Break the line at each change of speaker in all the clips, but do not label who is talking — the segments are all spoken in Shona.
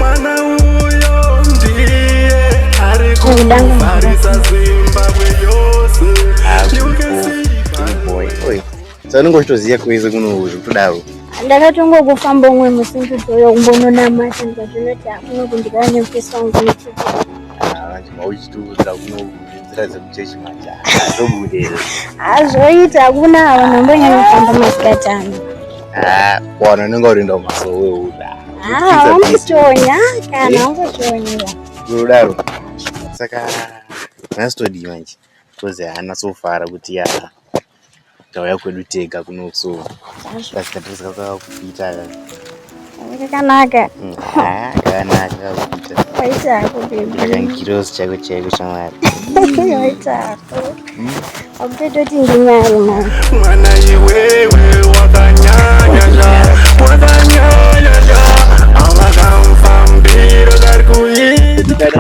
mwana uyo ndiye ari kuvharisa zimbabwe yose sanenge uchitoziva kwese kuno zvekutodaro ndakatongokufamba
umwe musi nditoyo kumbononamata ndikazvinoti akuno kundikana nemufesi wangu nechii ah,
uchitiudza kuno azvoita
hakuna avo nambonyanya kufamba masikati ano ah,
wana unenge urinda umasowe uda ah, ungotonya
kana ungotonya unodaro
saka nhasi todii manje kozi haana sofara kuti yaa tauya kwedu tega kuno so kasikadresa kakakupita
kakanaka mm,
kakanaka kakupita waita hako bebi
kakangirozi chako
chaiko shamwari waita
hako akupetoti nginyari mwana mwana
iwewe wakanyanya zva wakanyanya zva avakamfambiro kari kuita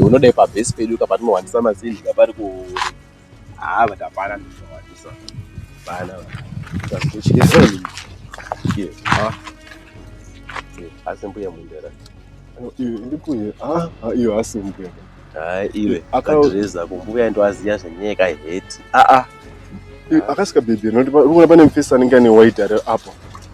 unoda ipabhesi pedu kapatinowandisa mazinji kapari ku Ah, but hapana ndishawadisa. Hapana. Tasuchira soni. Ye. Ah. Ye, asi mbuya mundera. Iwe ndikuye. Ah, ah, iwe asi mbuya. Ah, iwe. Akadreza kumbuya ndo aziya zvenyeka hate. Ah ah.
Akasika baby, ndokuona pane mfesa anenge ane white ari apo.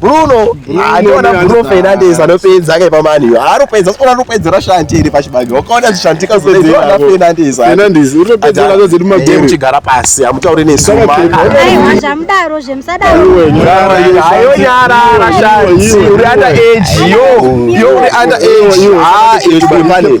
Bruno andiona Bruno Fernandes anopedza kai pamani iyo anopedza sikuona anopedzera shanti iri pachibage wakaona zvishantika zvinopedzera Fernandes Fernandes unopedza nazo dziri
magame chigara pasi amutaure
nesuma aiwa
zvamudaro zvemusadaro ayo
nyara rashanti uri under age yo yo uri under age ah iri pamani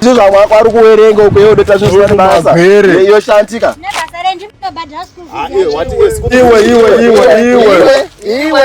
zvamwakwari kuwerenga ukuye udoita zvizoashantika iwe iwe iwe iwe iwe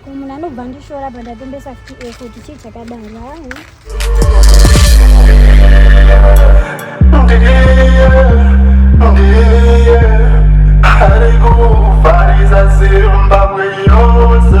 Ko munhu anobva ndishora
apa ndatombesa futi eko kuti chii chakadaro hayi.
Arikufarisa Zimbabwe yose.